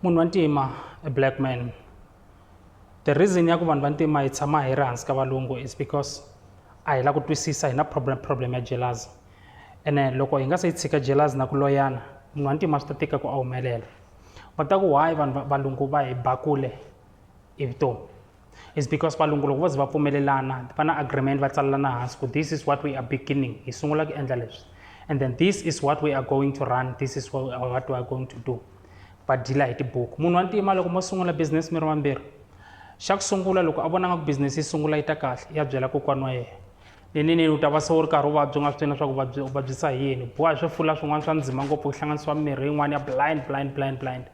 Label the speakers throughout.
Speaker 1: munhu wa ntima a black man the reason ya ku vanhu va ntima hi tshama hi ri hansi ka valungu is because a hi la ku twisisa hi na problem problem ya jealousy ene loko hi nga se yi tshika jealousy na ku loyana munhu wa ntima swi ta tika ku a humelela va ta ku why vanhu valungu va hi bakule hi vutomi is because valungu loko vo ze va pfumelelana va na agreement va tsalelana hansi ku this is what we are beginning hi sungula ku endla leswi and then this is what we are going to run this is what we are going to do va dila hi tibuku munhu wa ntima loko mo sungula business mi ri vambirhi xa ku sungula loko a vonanga ku business yi sungula yi ta kahle ya byela kokwana wa yena leninini u ta va se u ri karhi u vabya u nga swi tivi leswaku vabyi u vabyisa hi yini boha hi swifula swin'wana swa ndzima ngopfu ku hlanganisiwa mirhi yin'wana ya blind blind blind blind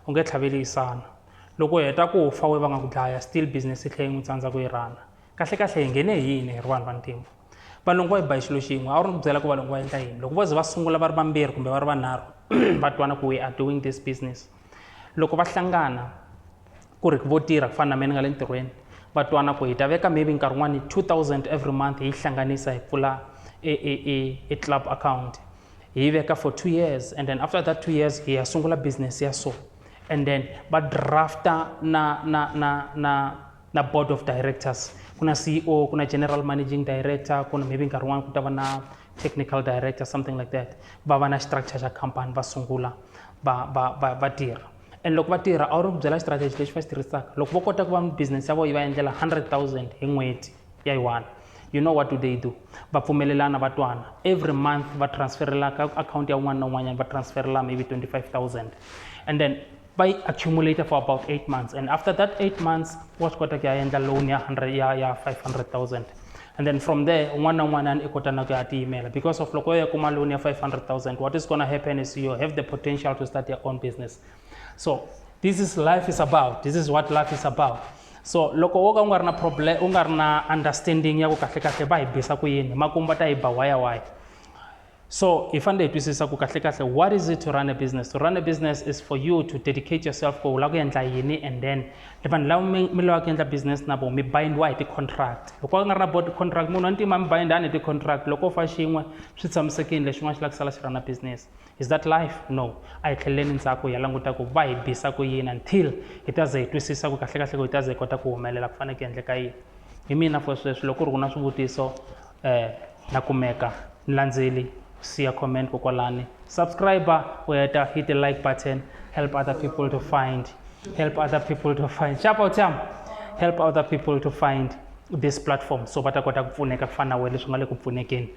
Speaker 1: u nge tlhaveli yi sala loko u heta ku fa we va nga ku dlaya still business yi tlhe yi n'wi tsandza ku yi rana kahle kahle hi nghene hi yini hi ri vanhu vantima valungu va yi ba xilo xin'we a wu ri ni ku byela ku valungu va endla yini loko vo ze va sungula va ri vambirhi kumbe va ri vanharhu va twana ku we are doing this business loko va hlangana ku ri vo tirha ku fana na mina ni nga le ntirhweni va twana ku hi ta veka maybe nkarhi wun'wani two thousand every month hi yi hlanganisa hi pfula e e e e club account hi yi veka for two years and then after that two years hi ya sungula business ya so and then va drafta na na na na na board of directors ku na ceo ku na general managing director ku na maybe nkarhi wun'wana ku ta va na technical director something like that va va na structure xa company va sungula va va va va tirha and loko va tirha a wu ri ku byela strategy lexi va xi tirhisaka loko vo kota ku va business ya vona yi va endlela 100 000 hi n'hweti ya yi one you know what do they do va pfumelelana va twana every month va transferela ka account ya un'wana na un'wanyana va transferela maybe 25000 and then va yi accumulate for about 8 months and after that 8 months wa swi kota ku ya endla loan ya 100 ya ya 500000 and then from there un'wana na un'wanyana i kota na ku ya tiyimela because of loko yo ya kuma loan ya 500000 what is gonna happen is you have the potential to start your own business so this is life is about this is what life is about so loko wo ka u nga ri na problem u nga ri na understanding ya ku kahlekahle va hi bisa ku yini makumu va ta yi ba waya waya so hi fanele hi twisisa ku kahlekahle what is it to run a business to run a business is for you to dedicate yourself ku u lava ku endla yini and then vanhu lava mi mi lavaka ku endla business na vona mi bindiwa hi ti-contract loko a nga ri na board contract munhu wa ntima mi bindani hi ti-contract loko u fa xin'we swi tshamisekile lexin'wana xi lava ku sala xi ra na business Is that life? No. A hi tlheleleni ndzhaku hi ya languta ku va hi bisa ku yini until hi ta ze hi twisisa ku kahlekahle ku hi ta ze hi kota ku humelela ku fanele ku endleka yini hi mina for sweswi loko ri ku na swivutiso um na kumeka ni landzeli siya comment kokwalani subscriber u heta hit the like button help other people to find help other people to find xapa u tshama help other people to find this platform so va ta kota ku pfuneka ku fana na wena leswi nga le ku pfunekeni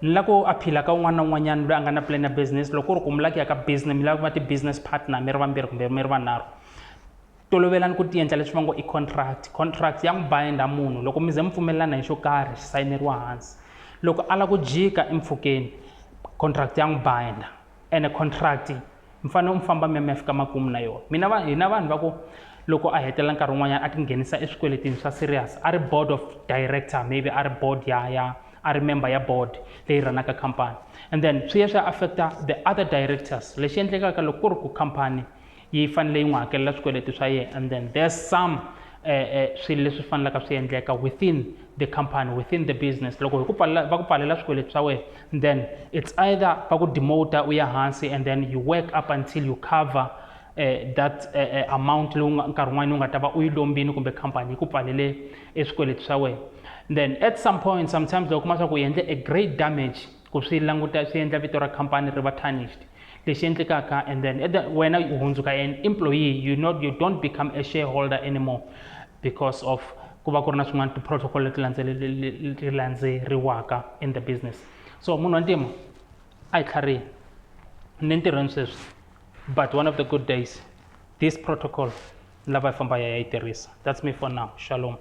Speaker 1: ni lava ku aphila ka un'wana na un'wanyana loyi a nga na plan ya business loko ku ri ku mi lava ku ya ka business mi lava ku va ti-business partner mi ri vambirhi kumbe mi ri vanharhu tolovelani ku ti endla leswi va ngo i contract contract ya n'wi bind-a munhu loko mi ze mi pfumelelana hi xo karhi xi sayineriwa hansi loko a lava ku jika empfhukeni contract ya n'wi bind-a. ene contract mi fanele mi famba mi ya mi ya fika makumu na yona mina va hina vanhu va ku loko a hetelela nkarhi wun'wanyana a tinghenisa eswikweletini swa serious a ri board of director maybe a ri board ya ya a ri member ya board leyi ranaka company and then swi ya swi ya affecta the other directors lexi endlekaka loko ku ri ku company yi fanele yi n'wi hakelela swikweleti swa yena and then there's some uh, uh, swilo leswi fanelaka swi endleka within the company within the business loko hi ku pfalela va ku pfalela swikweleti swa wena then it's either va ku demoter u ya hansi and then you work up until you cover uh, that uh, uh, amount leyi nkarhi wun'wana u nga ta va u yi lombini kumbe company yi ku pfalele eswikweleti swa wena then at some point sometimes loko kuma swa ku u endle a great damage ku swi languta swi endla vito ra khampani ri va tarnished lexi endlekaka and then at the, wena u hundzuka an employee you not you don't become a shareholder anymore because of ku va ku ri na swin'wana ti-protocol leti leti landzeriwaka in the business so munhu wa ntima a hi tlharini ni ntirhweni sweswi but one of the good days this protocol ni lava yi famba ya yi tirhisa that's me for now shalom